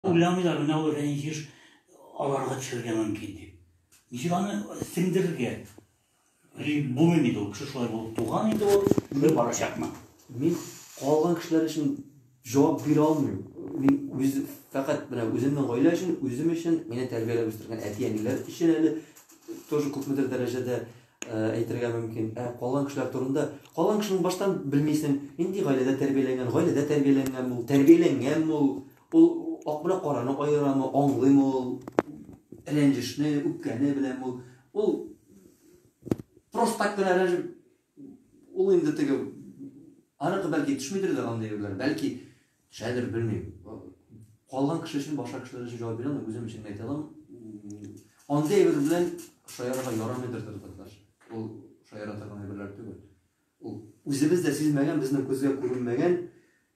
Уйламыйлар, менә ул рәнҗеш аларга төшәргә мөмкин дип. Ничек аны сеңдерергә? Булмый бит ул, кеше шулай булып туган инде ул, шулай барачакмы? Мин калган кешеләр өчен җавап бирә алмыйм. Мин үз фәкать менә үземнең гаилә өчен, үзем өчен, мине тәрбияләп үстергән әти-әниләр өчен әле тоже күпмедер дәрәҗәдә әйтергә мөмкин. Ә калган кешеләр турында, калган кешене баштан белмисең, нинди гаиләдә тәрбияләнгән, гаиләдә тәрбияләнгәнме ул, тәрбияләнгәнме ул, Ул ак белән караны аерамы, аңлыймы ул рәнҗешне, үпкәне белән ул. Ул просто так кына рәнҗеп, ул инде теге, аныкы бәлки төшмидер дә андый юллар, бәлки шәдер белмим. Калган кеше өчен, башка кешеләр өчен җавап бирә алмыйм, үзем өчен әйтә алам. Андый әйбер белән шаярырга ярамыйдыр татарлар. Ул шаяра торган әйберләр түгел. Ул үзебез дә сизмәгән, безнең күзгә күренмәгән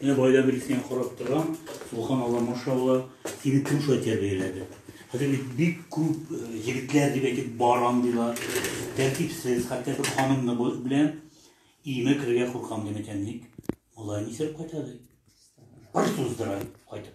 Менә гаилә берисенә карап торам, субханалла, машалла, сине кем шулай тәрбияләде? Хәзер бит бик күп э, егетләр дип әйтеп бар андыйлар, тәртипсез, хәтта бер ханымны белән иеме керергә куркам димәкән ник? Алай нисәп кайтады? Бер суздыра кайтып.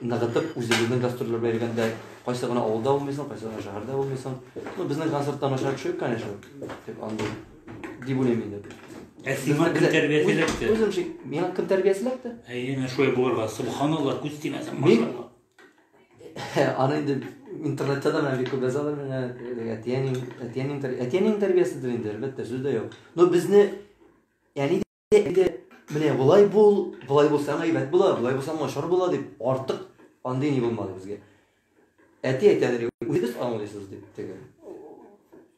ныгытып, үзебезнең гастрольләргә йөргәндә кайсы гына авылда булмыйсың, кайсы гына шәһәрдә булмыйсың. Ну, безнең концертта начар төшеп, конечно, дип андый. Дип уйлыйм инде. Ә сиңа кем тәрбияселәтте? Үзем шик, миңа кем тәрбияселәтте? Әйе, менә шулай булырга. Субханалла, күз тимәсен, машалла. Аны инде интернетта да менә бик күп язалар менә әтиәнең әтиәнең әтиәнең тәрбияседер инде, әлбәттә, сүз дә юк. Но безне әни Әйдә, менә болай бул, болай булсаң әйбәт була, болай булсаң начар була дип, артык андый ни булмады безгә. Әти әйтәләр, үзегез аңлыйсыз дип теге.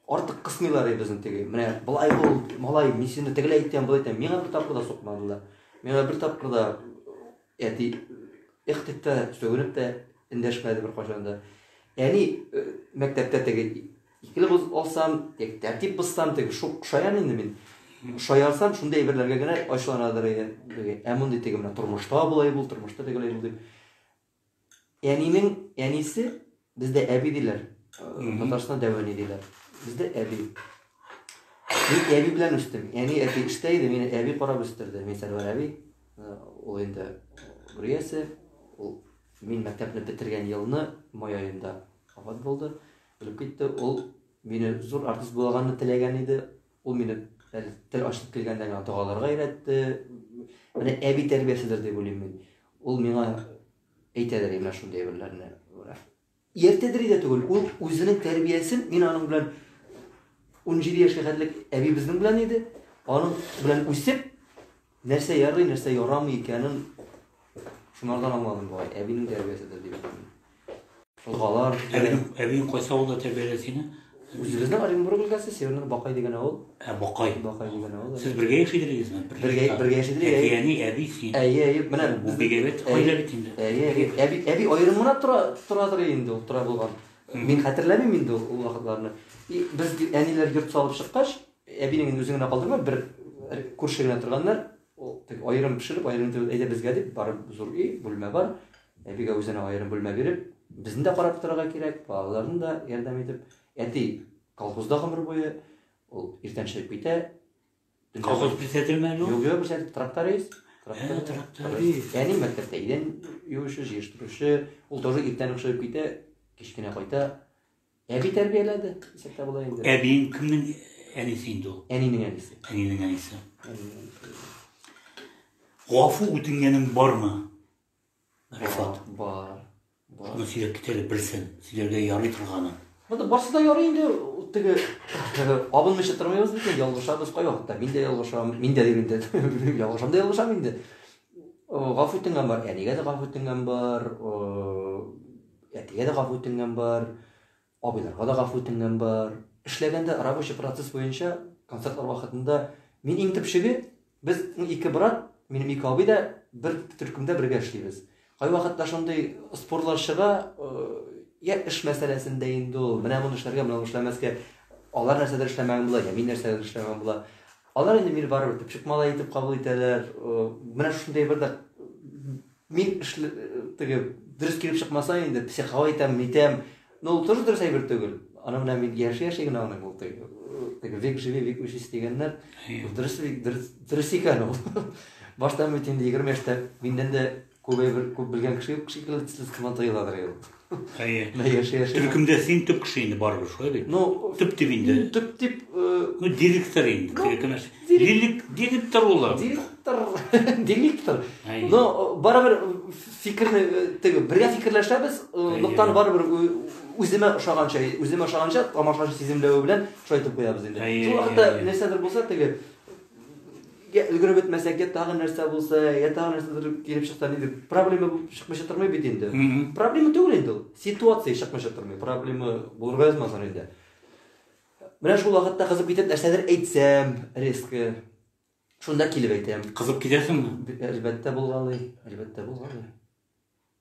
Артык кысмыйлар иде безне теге. Менә болай бул, малай, мин сине тегеләй әйтәм, болай әйтәм. Миңа бер тапкыр да сукмадылар. Миңа бер тапкыр да Әти эх дип тә, сүгенеп тә эндәшмәде беркайчан да. Әни э, мәктәптә теге икеле боз алсам, теге тәртип бозсам, теге шук шаян инде мин. Шаярсам, шундый әйберләргә генә ачуланадыр иде. Ә мондый теге менә тормышта болай бул, тормышта тегеләй бул дип. Әнинең әнисе бездә әби диләр. Татарстан дәвәни диләр. Бездә әби. Мин әби белән үстем. Әни әти эштә иде, мине әби карап үстерде. Мин Сәрвәр әби. Э, ул инде Гүриясе. Ул мин мәктәпне бетергән елны май аенда вафат булды. Үлеп китте. Ул мине зур артист булганны теләгән иде. Ул мине тел ачып килгәндә генә догаларга өйрәтте. Менә әби тәрбияседер дип уйлыйм мин. Ул миңа әйтәдер менә шундый әйберләрне. Ертедер иде түгел, ул үзенең тәрбиясен мин аның белән 17 яшькә хәтлек әбибезнең белән иде. Аның белән үсеп, Нәрсә ярый, нәрсә ярамый икәнен шунардан аңладым бугай, әбинең тәрбияседер дип ышанам. Узгалар. Әбиең кайсы авылда тәрбияләде сине? Үзебезнең Оренбург өлкәсе, Северный Бакай дигән авыл. Ә Бакай. Бакай дигән авыл. Сез бергә яши идегезме? Бергә, бергә яши идек. Әби, әни, әби син. Әйе, әйе, менә бу бигәбет хәйлә бит инде. Әйе, әйе. Әби, әби аерым гына тора, торадыр инде ул, тора булган. Мин хәтерләмим инде ул вакытларны. И без әниләр йорт салып чыккач, Әбинең инде үзе генә калдырмады, бер э, күрше генә торганнар, аерым пешереп, аерым итеп, әйдә безгә дип, барып зур өй, бүлмә бар, әбигә үзенә аерым бүлмә биреп, безне дә карап торырга кирәк, балаларын да ярдәм итеп, әти колхозда гомер буе, ул иртән чыгып китә. Колхоз күрсәтелмәде ул? Юк, юк, күрсәтелде, тракторист. Ә, тракторист. Әни мәктәптә идән юучы, җыештыручы, ул тоже иртән үк чыгып китә, кечкенә кайта, Әби тәрбияләде, исәптә була инде. Әбиең кемнең әнисе инде ул? Әнинең әнисе. Әнинең әнисе. Гафу үтенгәнең бармы? Рифат. Бар. Бар. Шуны сөйләп китәле белсен, сөйләргә ярый торганы. Монда барсы да ярый инде, теге абынмыйча тормыйбыз бит, ялгышабыз кай вакытта. Мин дә ялгышам, мин дә дим инде. Ялгышам да ялгышам инде. Гафу үтенгән бар, әнигә дә гафу үтенгән бар. Әтигә дә гафу үтенгән бар, абыйларга да гафу үтенгән бар. Эшләгәндә рабочий процесс буенча концертлар вакытында мин иң төпчеге, без ике брат, минем ике абый да бер төркемдә бергә эшлибез. Кайвакытта шундый спорлар чыга, я эш мәсьәләсендә инде ул, менә моны эшләргә, менә эшләмәскә, алар нәрсәдер эшләмәгән була, я мин нәрсәдер эшләмәгән була. Алар инде мине барыбер төпчек малай итеп кабул итәләр. Менә шундый бер дә Мин эшле теге дөрес килеп чыкмаса инде психау әйтәм, митәм. Но ул тоже дөрес әйбер түгел. Аны менә мин яши яши генә аны бул теге. Теге век живи, век учись дигәннәр. Дөрес дөрес икән ул. Башта мин инде 20 яшьтә миннән дә күп әйбер күп белгән кеше юк шикелле төсле сыман тоеладыр ул. Әйе. Менә яши яши. Төркемдә син төп кеше инде барыбер, шулай бит? Ну, төп дип инде. Төп дип, э, ну директор инде. Ну, Кирәкмәс. Дирек, директор ул. Директор, директор. Но э, барыбер э, фикерне э, теге бергә фикерләшәбез, ноктаны барыбер үземә ошаганча, үземә ошаганча тамашачы сиземләве белән шулай итеп куябыз инде. Шул вакытта нәрсәдер булса теге Йә өлгереп бетмәсәк, йә тагы нәрсә булса, йә тагы нәрсәдер килеп чыкса, нидер проблема булып чыкмыйча тормый бит инде. Проблема түгел инде ул. Ситуация чыкмыйча тормый. Проблема булырга язмасын инде. Менә шул вакытта кызып китеп нәрсәдер әйтсәм, резко. Шунда килеп әйтәм. Кызып китәсеңме? Әлбәттә булгалый, әлбәттә булгалый.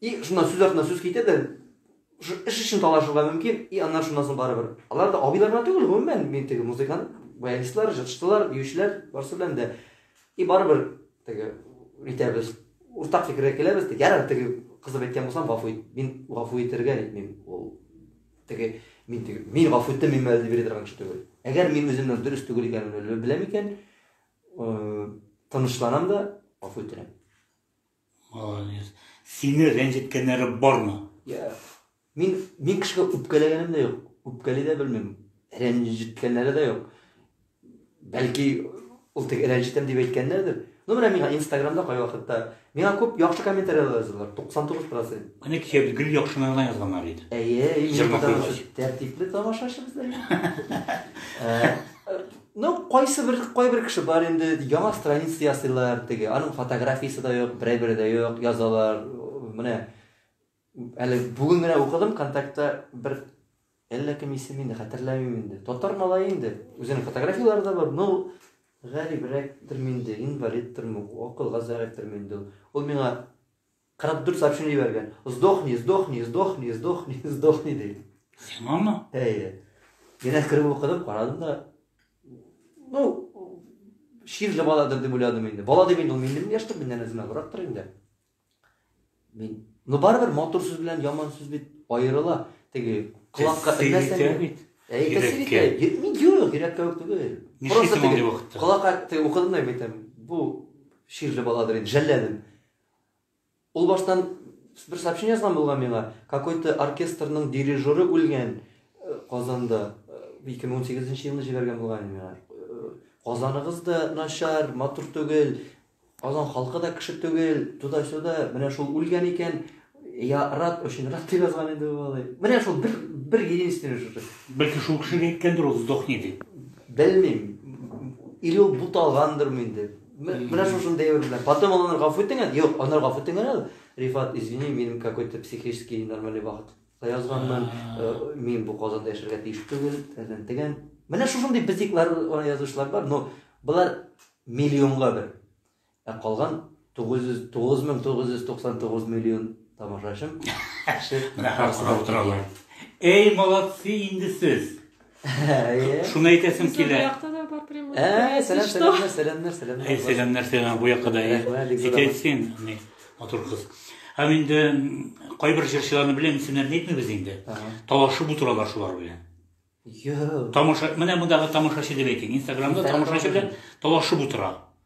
И шуннан сүз артына сүз китә дә, эш өчен талашырга мөмкин, и аннан шуннан соң барыбер. Алар да абыйлар гына түгел, гомумән, мин теге музыкант, баянистлар, җырчылар, биючеләр, барысы белән дә. И барыбер теге итәбез, уртак фикергә киләбез, теге ярар теге кызып әйткән булсам, гафу ит. Мин гафу итәргә нитмим. Ул теге мин теге мин гафу иттем, мин мәлдә бирә торган кеше түгел. Әгәр мин үземнең дөрес түгел икәнен беләм икән, тынычланам да, гафу итәм. Молодец. Сине рәнҗеткәннәре бармы? Я, мин мин кешегә үпкәләгәнем дә юк. Үпкәли дә белмим. Рәнҗеткәннәре дә юк. Бәлки ул тек рәнҗетәм дип әйткәннәрдер. Ну менә миңа Инстаграмда кай вакытта миңа күп яхшы комментарияләр язалар. 99%. Менә кичә без гел яхшыны гына язганнар иде. Әйе, тәртипле тамашачыбыз да. Ну, кайсыбер, кайбер кеше бар инде, яңа страница ясыйлар, теге, аның фотографиясе дә юк, берәй бере дә юк, язалар, менә, әле бүген генә укыдым, контактта бер, әллә кем исем инде, хәтерләмим инде, татар малай инде, үзенең фотографияләре дә бар, ну, гәрибрәк тер инде, инвалид тер, акылга зәгыйфь тер инде, ул миңа, 44 сообщение җибәргән. Сдохни, сдохни, сдохни, сдохни, сдохни ди. Сиңамы? Әйе. Генә кереп укыдым, карадым да. Ну, ширле баладыр дип уйладым инде. Бала дип инде ул минем яшьтә миннән үземә гырактыр инде. Мин, ну барыбер матур сүз белән яман сүз бит аерыла. Теге колакка элмәсәң бит. Әйтәсегә, мин юк, йөрәккә үк түгел. Просто теге колакка теге укыдым да бит. Бу ширле баладыр инде, жәлләдем. Ул баштан бер сообщение язган булган миңа, какой-то оркестрның дирижеры үлгән Казанда. 2018 елны җибәргән булган иде миңа. Казаныгыз да начар, матур түгел, Казан халкы да кеше түгел, туда-сюда, менә шул үлгән икән, я рад, очень рад дип язган иде ул алай. Менә шул бер, бер единственный шушы. Бәлки шул кеше әйткәндер ул сдохни дип. Белмим. Или ул буталгандыр инде. Менә шушында әйбер белән. Потом ул аны гафу итенгән. Юк, аны гафу итенгән әле. Рифат, извини, минем какой-то психический нормальный вакыт. Язганмын, э, мин бу Казанда яшәргә тиеш түгел, тәген теген. Менә шушындый битиклар аны язучылар бар, но булар миллионга бер. Ә калган 900 9999 миллион тамашачым. Менә хәзер утыралар. Эй, молодцы инде сез. Шуны әйтәсем килә. Бу якта да бар прямой. Ә, сәлам, сәлам, сәлам, сәлам. Әй, сәлам, нәрсә, бу якка да. Әйтәй син, ни, матур кыз. Ә инде кайбер җырчыларны беләм, исемнәрен әйтмибез инде. Талашып утыралар шулар белән. Йо. Тамаша, менә мондагы тамашачы дип әйтик. Инстаграмда тамашачы белән талашып утыра.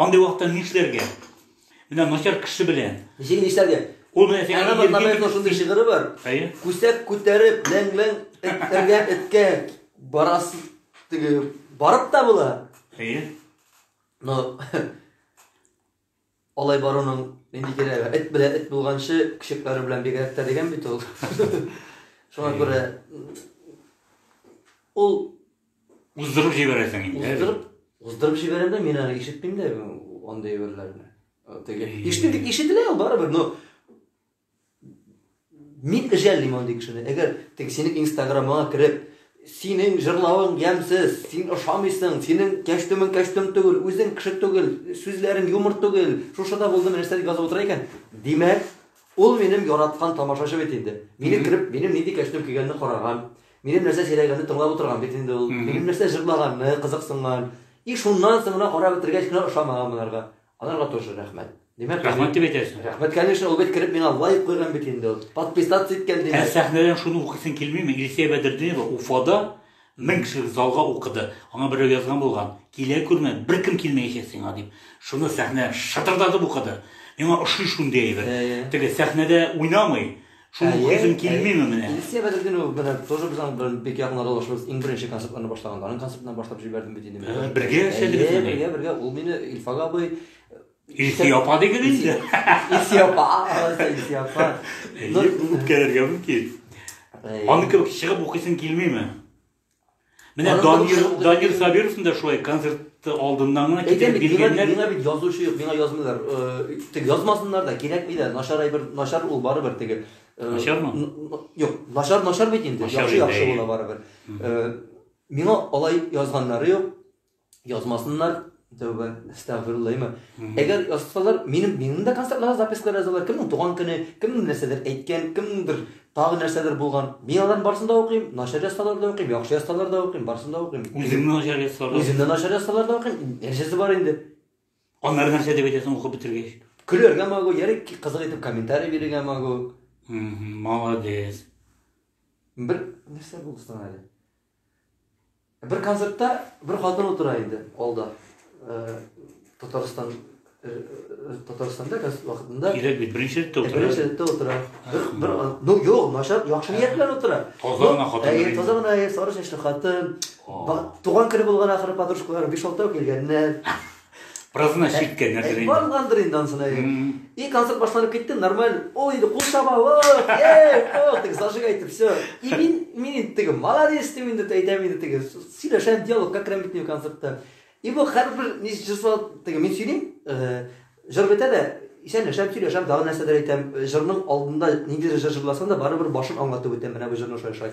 Андый вакытта нишләргә? Менә начар кеше белән. Ничек нишләргә? Ул менә сиңа Әнә Батламаевның шундый шигыре бар. Әйе. Күсәк күтәреп, ләң-ләң эткәргә эткә барас теге барып та була. Әйе. Но алай баруның нинди кирәге? Эт белән эт булганчы, күшекләре белән бигрәк тә дигән бит ул. Шуңа күрә ул Уздырып җибәрәсең инде. Уздырып, уздырып җибәрәм дә, мин аны ишетмим дә андый әйберләрне. Теге ишетеп тик ишетелә ул барыбер, но мин эҗәллим андый кешене. Әгәр тик синең инстаграмыңа кереп, синең җырлавың ямсыз, син ошамыйсың, синең кәчтүмең кәчтүм түгел, үзең кеше түгел, сүзләрең юмор түгел, шушыда булдым нәрсә дип язып утыра икән, димәк, ул минем яраткан тамашачы бит инде. Мине кереп, минем нинди кәчтүм кигәнне караган, Минем нәрсә сөйләгәнне тыңлап утырган бит инде ул. Минем нәрсә җырлаганны кызыксынган. И шуннан соң гына карап бетергәч кенә ошамаган монарга. Аларга тоже рәхмәт. Димәк, рәхмәт дип әйтәсең. Рәхмәт, конечно, ул бит кереп миңа лайк куйган бит инде ул. Подписаться иткән димәк. Ә сәхнәдән шуны укыйсың килмиме? Илсия Бәдердинова Уфада мең кеше залга укыды. Аңа берәү язган булган. Килә күрмә, беркем килмәячәк сиңа дип. Шуны сәхнә шытырдатып укыды. Миңа ошый шундый әйбер. Теге сәхнәдә уйнамый, Шуны күрәсем килмиме менә? Илсия Бәдретдинова белән тоже без аның белән бик якын аралашабыз. Иң беренче концертларны башлаганда аның концертына башлап җибәрдем бит инде мин. Ә, бергә эшләдегез инде. Бергә, бергә. Ул мине Илфак абый Илсия апа дигез инде. Илсия апа, Илсия апа. Үпкәләргә мөмкин. Аны кебек чыгып укыйсың килмиме? Менә Данир Данир Сабировның да шулай концерт алдыннан гына китереп биргәннәр. Миңа бит язучы юк, миңа язмыйлар. Э, тик язмасыннар да, кирәкми дә. Начар әйбер, начар ул барыбер теге. Э, Начармы? Юк, начар начар бит инде. Яхшы яхшы була барыбер. Э, миңа алай язганнары юк. Язмасыннар, тәүбә, әстәгъфируллаһиме. Әгәр язсалар, минем минем дә концертларга запискалар язалар. Кемнең туган көне, кемнең нәрсәдер әйткән, кемнеңдер тагы нәрсәдер булган. Мин аларның барысын да укыйм, начар язсалар да укыйм, яхшы язсалар да укыйм, барысын да укыйм. Үземне начар язсалар. Үземне начар язсалар да укыйм. Нәрсәсе бар инде. Аннары нәрсә дип әйтәсең укып бетергәч? Көләргә могу, яри кызык итеп комментарий бирергә могу. Молодец. Бер нәрсә булды соң әле. Бер концертта бер хатын утыра иде алда. Татарстан Татарстанда газ вакытында кирәк бит беренче рәттә утыра. Беренче рәттә утыра. Бер ну юк, начар яхшы ният белән утыра. Таза гына хатын. Әйе, таза гына әйе, сары чәчле хатын. Туган көне булган ахыры подружкалары 5-6 килгәннәр. Празына чиккән нәрсә инде. Баргандыр инде ансына. И концерт башланып китте, нормаль. Ул инде кул чаба, вот, эй, вот, тик зажиг әйтеп, все. И мин, мин инде теге, молодец, дип инде әйтәм инде теге. Сөйләшәм, диалог как керәм бит концертта. И бу хәрбер ни җырсал теге мин сөйлим, җыр бетә дә, исәнләшәм, сөйләшәм, тагы нәрсәдер әйтәм. Җырның алдында ниндидер җыр җырласам да, барыбер башын аңлатып үтәм, менә бу җырны шулай шулай.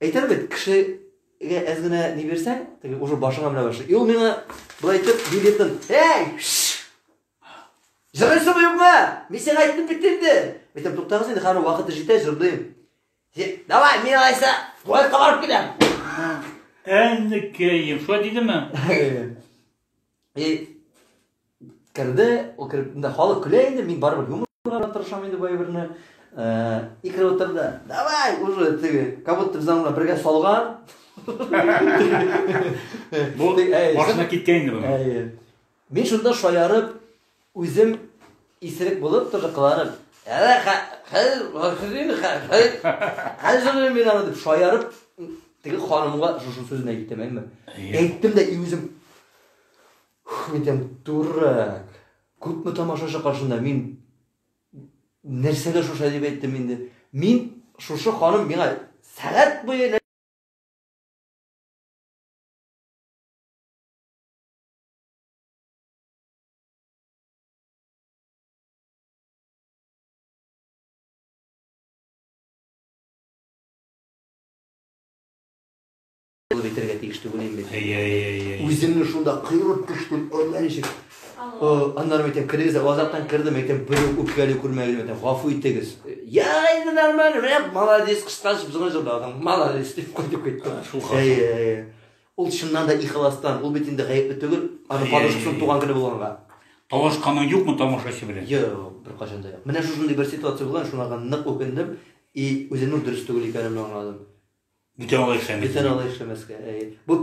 Әйтәм бит, кешегә әз генә ни бирсәң, теге уже башыңа менә башлый. И ул миңа былай итеп билетын, "Эй! Җырлыйсыңмы юкмы? Мин сиңа әйтеп бит инде." Әйтәм, "Туктагыз инде, хәзер вакыты җитә, җырлыйм." Давай, мин алайса, туалетка барып киләм. Әннекәем, шулай дидеме? И керде, ул кереп, инде халык көлә инде, мин барыбер юмор кылырга тырышам инде бу әйберне. Э, и кереп утырды. Давай, уже теге, как будто без аңа бергә салган. Бу машина киткән инде бу. Мин шунда шаярып, Үзем исерек булып, тожыкланып, Хәзер мин аны дип шаярып, теге ханымга шушы сүзне әйттем, әйме? Әйттем дә и үзем Хмитем дурак. Күпме тамашачы каршында мин нәрсәгә шушы дип әйттем инде. Мин шушы ханым миңа сәгать буе Булып әйтергә тиеш түгел инде. Әйе, әйе, әйе. Үземне шунда кыйрып төштем, әллә ничек. Аннары әйтәм, керегез, азаттан кердем, әйтәм, бер үпкәле күрмәгез, әйтәм, гафу итегез. Я, инде нормально, менә молодец, кыскачып зыңгылдадың. Молодец дип кайтып киттем. Әйе, әйе. Ул чыннан да ихыластан, ул бит инде гаепле түгел, аның подружкасының туган көне булганга. Талашканың юкмы тамашачы белән? Юк, беркайчан да юк. Менә шушындый бер ситуация булган, шуңа нык үкендем и үземнең дөрес түгел икәнемне аңладым. Бүтән алай эшләмәскә. Бүтән алай эшләмәскә. Бу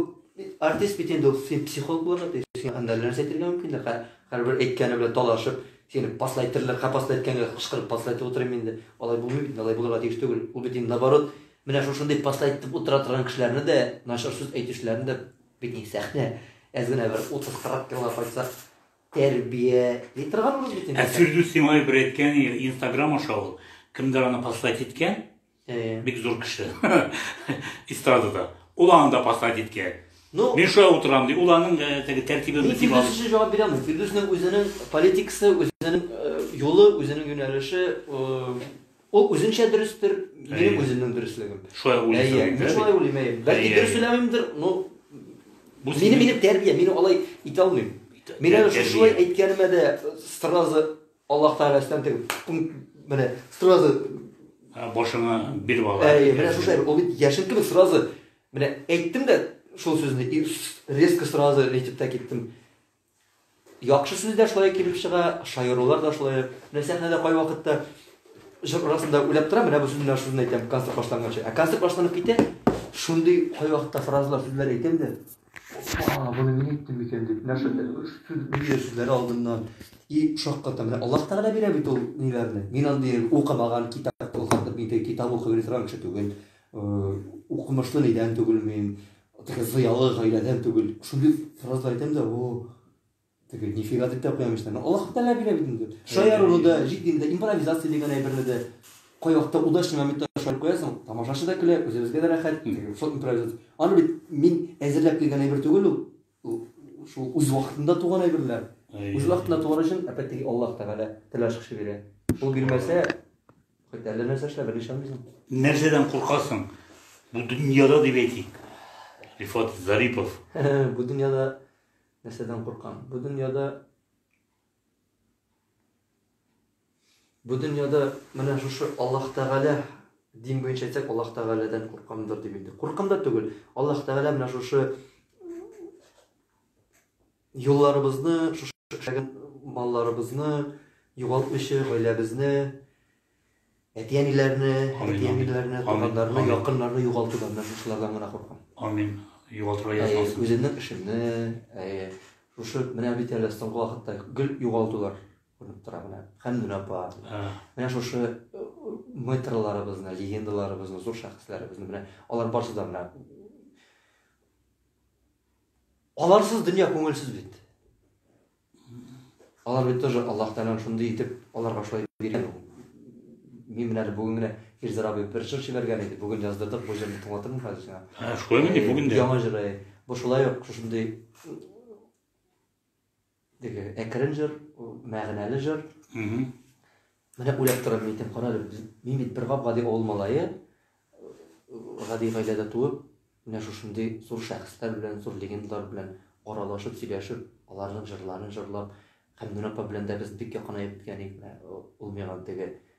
артист бит инде ул син психолог булырга тиеш. Син анда нәрсә әйтергә мөмкин дә, һәрбер әйткәне белән талашып, сине паслайтырлык, һәм паслайтканга кычкырып паслайтып утырыйм инде. Алай булмый бит, алай булырга тиеш түгел. Ул бит инде наоборот, Менә шушындый постать итеп утыра торган кешеләрне дә, начар сүз әйтүчеләрне дә бит ни сәхнә әз генә бер 30-40 елга кайтсак тәрбияли торганбыз бит инде. Ә Фирдүс Тимаев бер әйткән, Инстаграм аша ул кемдер аны постать иткән. Э. Бик зур кеше. Эстрадада. Ул аны да постать иткән. Ну, мин шулай утырам ди. Ул аның э, теге тәртибен бит дип алды. Мин җавап бирәм. Фирдүснең үзенең политикасы, үзенең э, юлы, үзенең юнәлеше Ул үзенчә дөрестер, минем үземнең дөреслегем. Шулай уйлыйсың. Әйе, мин шулай уйлыйм, әйе. Бәлки дөрес сөйләмимдер, но бу минем минем тәрбия, мин алай итә алмыйм. Мин әле шулай әйткәнемә дә сразу Аллаһ Тәгаләсеннән тегеп, менә сразу башыңа биреп ала. Әйе, менә шулай, ул бит яшен кебек сразу менә әйттем дә шул сүзне резко сразу әйтеп тә киттем. Яхшы сүз дә шулай килеп чыга, шаярулар да шулай. Менә сәхнәдә кайвакытта җыр арасында уйлап тора, менә бу сүзне менә шуны әйтәм, концерт башланганчы. Ә концерт башланып китә, шундый кайвакытта фразалар, сүзләр әйтәм дә, а, буны мин әйттем микән дип, менә шул ниләр сүзләре алдыннан. И шакката, менә Аллаһ Тәгалә бирә бит ул ниләрне. Мин андый укымаган китап укып, мин китап укып торган кеше түгел. Укымышлы нидән түгел мин. Теге зыялы гаиләдән түгел. Шул дип фраза әйтәм дә, о, теге нифига дип тә куям эчтән. Аллаһ Тәгалә бирә бит инде. Шаяру да, җитди дә, импровизация дигән әйберне дә кай вакытта удачный моментта шаярып куясың, тамашачы да көлә, үзебезгә дә рәхәт. Шул импровизация. Аны бит мин әзерләп килгән әйбер түгел ул. Шул үз вакытында туган әйберләр. Үз вакытында туган өчен, опять-таки, Аллаһ Тәгалә теләш кеше бирә. Ул бирмәсә, Хоть әллә нәрсә эшлә, бер ишанмыйсың. Нәрсәдән куркасың? Бу дөньяда дип әйтик. Рифат Зарипов. Бу дөньяда нәрсәдән куркам? Бу дөньяда Бу дөньяда менә шушы Аллаһ Тәгалә дин буенча әйтсәк, Аллаһ Тәгаләдән куркамдыр дип инде. Куркам да түгел. Аллаһ Тәгалә менә шушы Юлларыбызны, шушы эшләгән малларыбызны югалтмыйча, гаиләбезне, әти-әниләрне, әти-әниләрне, туганнарны, якыннарны югалтудан да шушылардан гына куркам. Амин. Югалтырга язмасын. Үземнең эшемне, шушы менә бит әле соңгы вакытта гел югалтулар күренеп тора менә. Хәмдүн апа. Менә шушы мэтрларыбызны, легендаларыбызны, зур шәхесләребезне менә алар барсы да менә Аларсыз дөнья күңелсез бит. Алар бит тоже Аллаһ Тәгаләнең шундый итеп аларга шулай биргән. Мин менә әле бүген генә Илзар абый бер җыр җибәргән иде. Бүген яздырдык бу җырны тыңлатырмын хәзер сиңа. Ә, шулаймы ди, э, бүген дә? Яңа җыры. Бу шулай ук шушындый Теге әкрен җыр, мәгънәле җыр. Менә уйлап торам мин, кара әле, мин бит бер гап гади авыл малае, гади гаиләдә туып, менә шушындый зур шәхесләр белән, зур легендалар белән аралашып, сөйләшеп, аларның җырларын җырлап, Хәмдүн апа белән дә без бик якынаеп киткән идек, ул миңа теге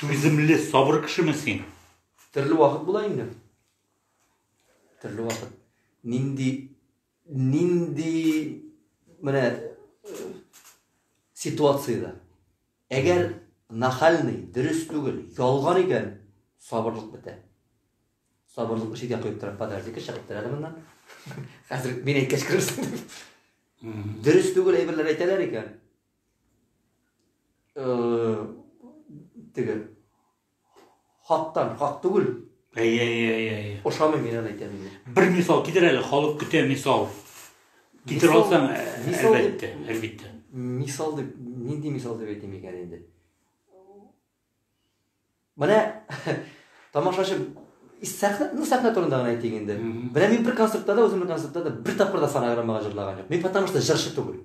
Түземле, сабыр кешеме син? Төрле вакыт була инде. Төрле вакыт. Нинди нинди менә ситуациядә. Әгәр нахальный, дөрес түгел, ялган икән, сабырлык бетә. Сабырлык читкә куеп тора, подожди-ка, чыгып тора әле моннан. Хәзер мин әйткәч керерсең. Дөрес түгел әйберләр әйтәләр икән. теге хактан хак түгел әйе әйе әйе ошамый мин аны әйтәм бер мисал китер әле халык көтә мисал китер алсаң әлбәттә әлбәттә мисал дип нинди мисал дип әйтим икән инде менә тамашачы сәхнә ну сәхнә турында гына әйтик инде менә мин бер концертта да үземнең концертта да бер тапкыр да фонограммага җырлаган юк мин потому что җырчы түгел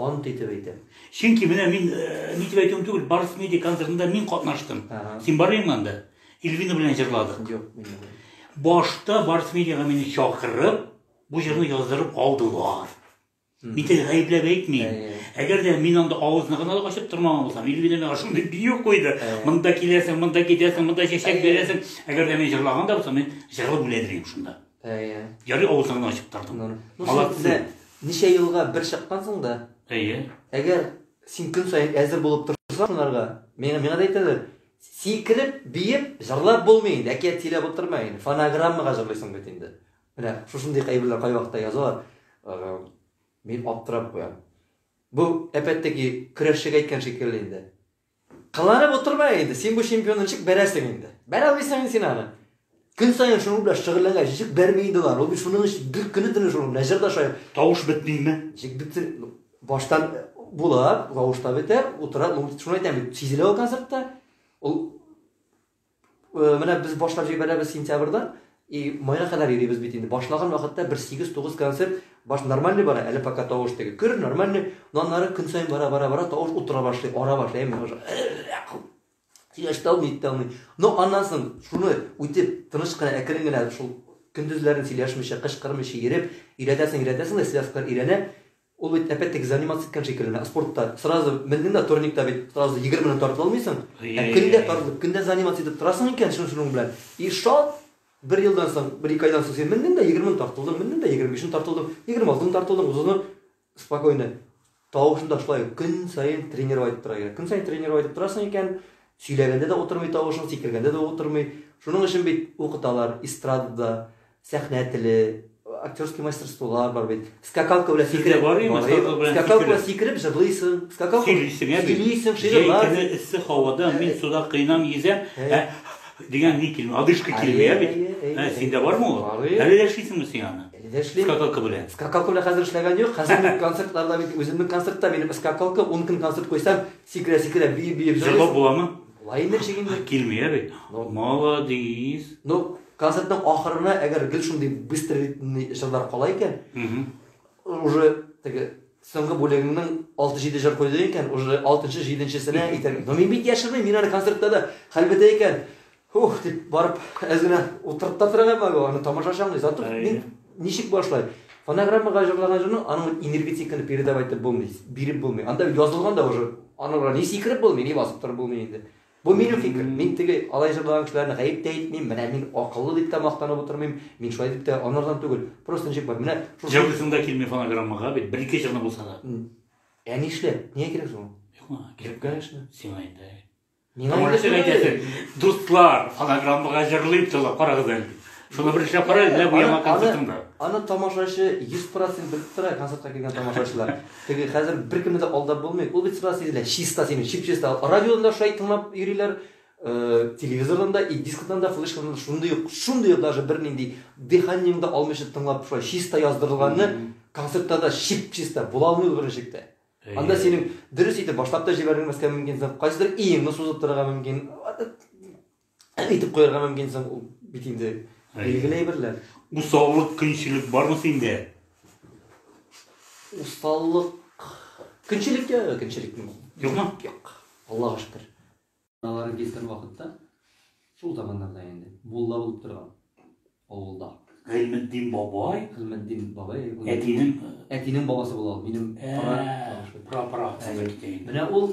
Ант итеп әйтәм. Чөнки менә мин ни дип әйтүем түгел, Барс медиа концертында мин катнаштым. Син бармыймы анда? Ильвина белән җырладык. Юк, мин башта Барс медиага мине чакырып, бу җырны яздырып алдылар. Мин тел гаепләп әйтмим. Әгәр дә мин анда авызны гына да ачып тормаган булсам, Ильвина миңа шундый бию куйды. Монда киләсең, монда китәсең, монда чәчәк бирәсең. Әгәр дә мин җырлаган да булсам, мин җырлап үләдер идем шунда. Әйе. Ярый авызыңны гына ачып тордың. Ну, син Молодцы. менә ничә елга бер чыккансың да, Әйе. әгәр син көн саен әзер булып торсаң шунарга, миңа, миңа да әйтәләр, сикереп, биеп, җырлап булмый инде, әкият сөйләп утырма инде, фонограммага җырлыйсың бит инде. Менә шушындый әйберләр кайвакытта язалар, э, мин аптырап куям. Бу әпәттәге көрәшчегә әйткән шикелле инде. Кыланып утырма инде, син бу чемпионны ничек бәрәсең инде? Бәрә алмыйсың инде син аны. Көн саен шуның белән шөгыльләнгән ничек бәрми инде ул. Ул шуның өчен бер көне төне шуның белән җыр да шая. Тавыш бетмиме? Ничек бетер? Баштан була, тавыш та бетә, утыра. Шуны әйтәм бит, сизелә ул концертта. Ул Э, менә без башлап җибәрәбез сентябрьдә и майга кадәр йөрибез бит инде башлаган вакытта бер сигез тугыз концерт баш нормальный бара әле пока тавыш теге көр нормальный но аннары көн саен бара бара бара тавыш утыра башлый ара башлый мен уже сөйләшә алмый итә алмый но аннан соң шуны үтеп тыныч кына әкрен генә шул көндезләрен сөйләшмичә кычкырмыйча йөреп өйрәтәсең өйрәтәсең дә связкалар өйрәнә Ул бит әпәт-тәк заниматься иткән шикелле, спортта сразу мендең дә турникта бит сразу егермене тартып алмыйсың. Ә көндә тартып, көндә заниматься итеп торасың икән шуның шуның белән. И шат! Бер елдан соң, бер ике айдан соң син мендең дә егермене тартып алдың, мендең дә егерме бишне тартып алдың, егерме алтыны тартып алдың, утызны спокойно. Тавышын да шулай көн саен тренировать итеп тора икән. Көн саен тренировать итеп торасың икән, сөйләгәндә дә утырмый тавышың, сикергәндә дә утырмый. Шуның өчен бит укыталар эстрадада, Сәхнә теле, актерский мастерстволар бар бит. Скакалка белән сикереп. Бар име? Скакалка белән сикереп җырлыйсың. Скакалка сөйлисең, ә бит. Сөйлисең, шигырьләр. Җәй көне эссе һавада мин э, суда кыйнам йөзәм. Э. Ә дигән ни килми, одышка килми, ә бит. Ә синдә бармы ул? Әле дә эшлисеңме син аны? Дәшли. Скакалка белән. Скакалка белән хәзер эшләгән юк. Хәзер концертларда бит үземнең концертта минем скакалка 10 көн концерт куйсам, сикерә сикерә биеп биеп. Җырлап буламы? Лайнер чигенде. Килми, ә бит. Молодец. Ну, Концертның ахырына әгәр гел шундый быстро ритмный җырлар кала икән, уже теге соңгы бүлегеңнең 6-7 җыр куйды икән, уже 6-нчы, 7-нчесенә итәм. Но мин бит яшермим, мин аны концертта да хәлбәтә икән. Ух, дип барып, әз генә утырып та торам әле, аны тамашачы аңлый. Зато мин ничек башлай? Фонограммага җырлаган җырны аның энергетиканы передавать итеп булмый, биреп булмый. Анда язылган да уже, аны ни сикереп булмый, ни басып торып булмый инде. Бу минем фикер. Мин теге алай җырлаган кешеләрне гаеп тә итмим, менә мин акыллы дип тә мактанып утырмыйм, мин шулай дип тә анардан түгел. Просто ничек бар, менә шушы. Җыр дисең дә килми фонограммага бит, бер-ике җырны булса да. Ә нишләп? Нигә кирәк соң ул? Юк, миңа кирәк. Конечно. Сиңа инде. Миңа инде. Дустлар, фонограммага җырлыйм, тыңлап карагыз әле. Шуны бер эшләп кара, менә бу яңа концертыңда. Аны тамашачы 100% белеп тора, концертка килгән тамашачылар. Теге хәзер беркемне дә алдап булмый. Ул бит сразу сизелә, чиста синең, чип-чиста. Радиодан да шулай тыңлап йөриләр, телевизордан да, и дискодан да, флешкадан да шундый ук, шундый ук даже бернинди дыханиең да алмыйча тыңлап шулай чиста яздырылганны концертта да чип-чиста була алмый ул беренче чиктә. Анда синең дөрес итеп башлап та җибәрелмәскә мөмкин, кайсыдыр иеңне сузып торырга мөмкин. әйтеп куярга мөмкин соң ул бит инде билгеле әйберләр. Усаллык, көнчелек бармы синдә? Усаллык, көнчелек тә, көнчелек юк. Юкмы? Юк. Аллага шөкер. Алар килгән вакытта шул заманнарда инде мулла булып торган авылда. Гыйльметдин бабай. Гыйльметдин бабай. Әтинең әтинең бабасы була ул. Минем пра пра. Менә ул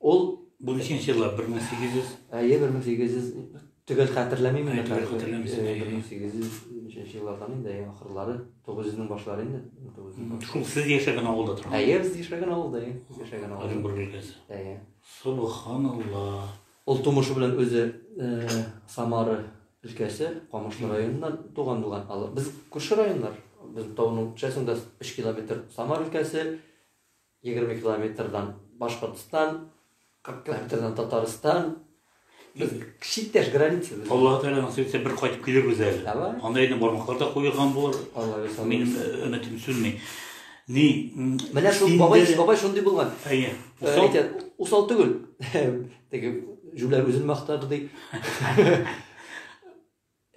Ул бу ниченче еллар? 1800? Әйе, 1800 төгәл хәтерләмим инде. Төгәл хәтерләмисең. 1800 еллардан инде, әйе, ахырлары, 900-нең башлары инде. Шул сез яшәгән авылда тора. Әйе, без яшәгән авылда, әйе. Без яшәгән авылда. Оренбург өлкәсе. Әйе. Субханалла. Ул тумышы белән үзе Самара өлкәсе, Камышлы районыннан туган булган. Без күрше районнар. Без тауның часында 3 километр Самара өлкәсе, Егерме километрдан Башкортстан, кырык километрдан Татарстан. Без читтәш граница. Аллаһ Тәгалә насыйп итсә бер кайтып килербез әле. Давай. Анда инде бармаклар да куелган булыр. Аллаһ бирсә. Минем э, өметем сүнми. Ни? м, Менә шул син бабай, дә- бабай шундый булган. Әйе. Э, Усал. әйтә, Усал түгел. Теге җүләр үзен мактады ди.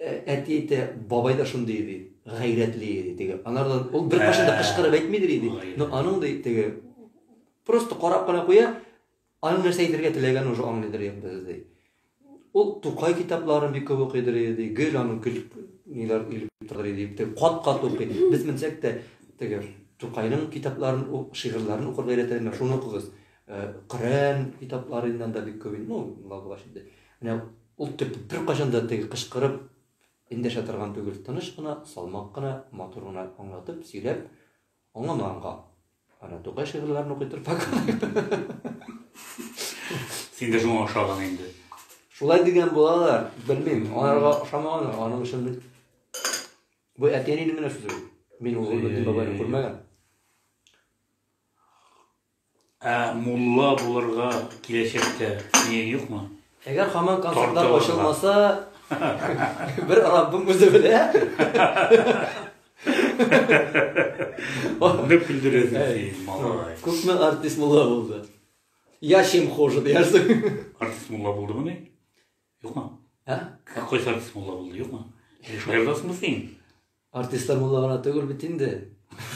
Әти әйтә, бабай да шундый иде, гайрәтле иде, теге. Анардан ул бер кашын да кычкырып әйтмидер иде. Но аның да теге просто карап кына куя, аның нәрсә әйтергә теләгәнен уже аңлыйдыр инде ди. Ул Тукай китапларын бик күп укыйдыр иде, гел аның көл ниләр илеп торыр иде, теге кат-кат укый. Без менсәк тә теге Тукайның китапларын, шигырьләрен укырга өйрәтәләр, шуны укыгыз. Коръән китапларыннан да бик күп инде, ну, моңа булгач инде. Менә ул төп беркайчан да теге кычкырып эндәшә торган түгел, тыныч кына, салмак кына, матур гына аңлатып, сөйләп, аңламаганга. Ана Тукай шигырьләрен укый торып Син дә шуңа ошаган инде. Шулай дигән булалар, белмим, аларга ошамаганнар, аның өчен бу әтиәнинең генә сүзе. Мин ул бабайны күрмәгән. Ә мулла булырга киләчәктә нияң юкмы? Әгәр хаман концертлар ачылмаса, бер Раббым үзе белә. Нык көлдерәсең, малай. Күпме артист мулла булды? Я чем хуже, диясең. Артист мулла булдымы ни? Юкмы? Ә? Ә кайсы артист мулла булды, юкмы? Шулай буласыңмы син? Артистар монда гына түгел бит инде.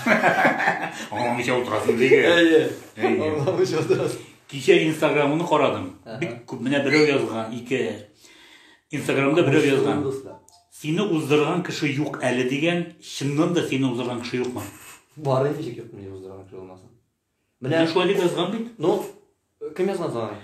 Аңламыйча утырасың диге. Әйе. Аңламыйча утырасың. Кичә Инстаграмны карадым. Бик күп менә берәү язган, ике. Инстаграмда берәү язган. Сине уздырган кеше юк әле дигән, чыннан да сине уздырган кеше юкмы? Бар инде, юк, мені уздырган кеше булмасын. Менә Менә шулай дип язган бит. Ну, кем язган соң?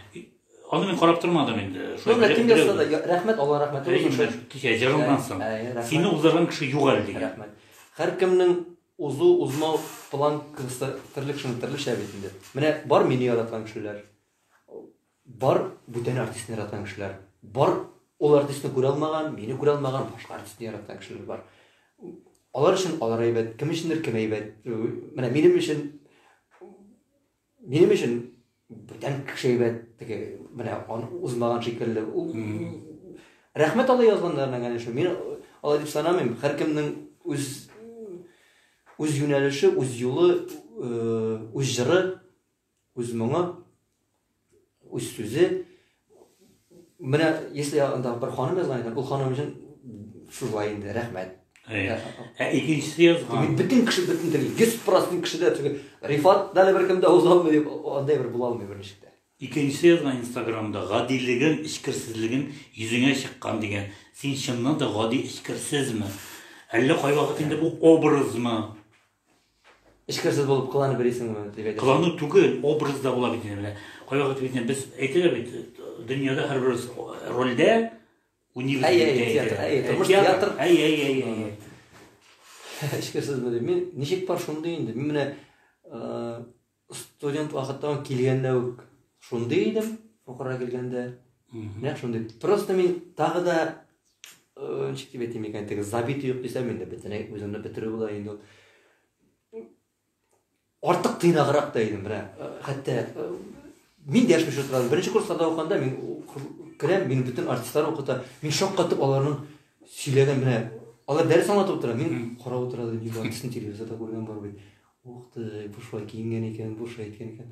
Аны мин карап тормадым инде. Ну, менә кем язса да, рәхмәт, Алла рәхмәте булсын. Рәхмәт, кичә җырыңнан соң. Сине уздырган кеше юк әле дигән. Рәхмәт. Һәркемнең узу, узмау план кыста терлек шуны терлешә бит инде. Менә бар мине яраткан кешеләр. Бар бүтән артистны яраткан кешеләр бар. Ул артистны күрә алмаган, мине күрә алмаган башка артистны яраткан кешеләр бар. Алар өчен алар әйбәт, кем өчендер кем әйбәт. Менә минем өчен минем өчен бүтән кеше әйбәт, теге менә аны узмаган шикелле. Ул рәхмәт алла язганнарына генә шул. Мин алай дип санамыйм. Һәркемнең үз үз юнәлеше, үз юлы, үз җыры Үз моңы, үз сүзе. Менә, если анда бер ханым язган икән, ул ханым өчен шулай инде, рәхмәт. Ә икенчесе язган. Бөтен кеше бөтен тел, 100% кешедә теге Рифат дәле бер кемдә уза алмый дип, андай бер була алмый бер ничек тә. Икенчесе язган Инстаграмда гадилеген, эчкерсезлеген йөзеңә чыккан дигән. Син чыннан да гади эчкерсезме? Әллә кайвакыт инде бу образмы? Эчкерсез булып кыланып йөрисеңме? дип әйтәчәк. Кылану түгел, образда була бит инде. Кайвакыт бит без әйтәләр бит, дөньяда һәрберебез рольдә уйныйбыз. Әй, әй, театр, әй, тормыш театр. Әй, әй, әй, әй. Эчкерсезме дип. Мин ничек бар шундый инде. Мин менә студент вакыттан килгәндә үк шундый идем фукырга килгәндә нәкъ шундый просто мин тагы да э, ничек дип әйтим икән теге забит юк дисәм инде бөтенләй үземне бетерү була инде ул артык тыйнаграк та идем менә э, хәтта э, мин дәшми шул сразу беренче курсларда укыганда мин керәм мин бөтен артистлар укыта мин шаккатып аларның сөйләгән менә алар дәрес аңлатып утыра мин карап утыра телевизорда күргән бар бит Ух ты, бу шулай киенгән икән, бу шулай әйткән икән.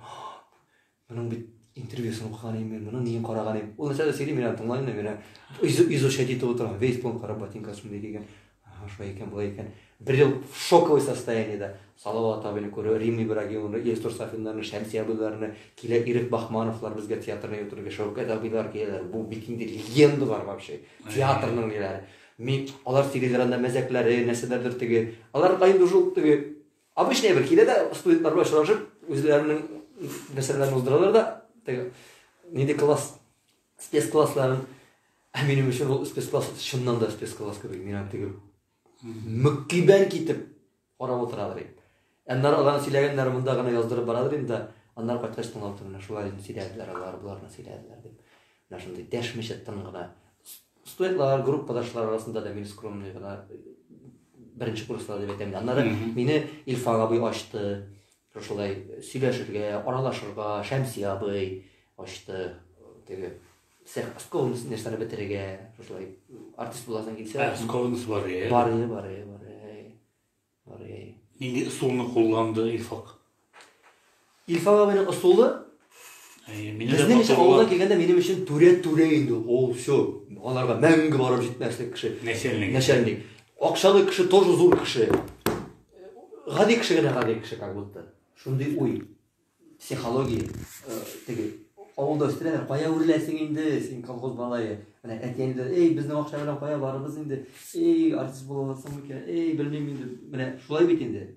Моның бит интервьюсын укыган идем мин, моның ниен караган идем. Ул нәрсә дә сөйли, мин аны тыңлайм да, мин аны изучать итеп утырам. Весь план карап, ботинка шундый кигән. Ага, шулай икән, болай икән. Бер ел шоковый состояниедә. Салават абыйны күрү, Рим Ибрагимовны, Илсур Сафиннарны, Шәмси абыйларны, килә Ирек Бахмановлар безгә театрны йотырга, Шәүкәт абыйлар киләләр. Бу бит инде легендалар вообще. Театрның ниләре. Мин, алар теге веранда мәзәкләре, нәрсәләрдер теге, алар да инде уже ул теге обычный бер килә дә студентлар белән очрашып, үзләренең нәрсәләрен уздыралар да, теге нинди класс, спецклассларын. Ә минем өчен ул спецкласс чыннан да спецкласс кебек, мин аны теге мөккибән китеп Карап утырадыр идем. Аннары аларны сөйләгәннәр монда гына яздырып барадыр идем да, аннары кайткач тыңлап тордым, менә шулай дип сөйләделәр алар, боларны сөйләделәр дип. Менә шундый дәшмичә тын гына. Студентлар, группадашлар арасында да мин скромный гына беренче курслар дип әйтәм. Аннары мине Илфан абый ачты. Шулай сөйләшергә, аралашырга, Шәмси абый ачты. Теге Сәх Псковнс нәрсәне бетерергә, шулай артист буласың килсә. Ә Псковнс бар е. Бар е, бар е, бар е. Бар е. Нинди ысулны кулланды Илфак? Илфак абыйның ысулы Безнең өчен авылга килгәндә минем өчен түрә түрә инде ул все аларга мәңге барып җитмәслек кеше начальник начальник акчалы кеше тоже зур кеше гади кеше генә гади кеше как будто шундый уй Психология, э, теге, авылда өстерәләр, кая үрләсең инде, син колхоз балае. Менә әтиәнде, эй, безнең акча белән кая барыбыз инде, эй, артист буласың микән, эй, белмим инде. Менә шулай бит инде.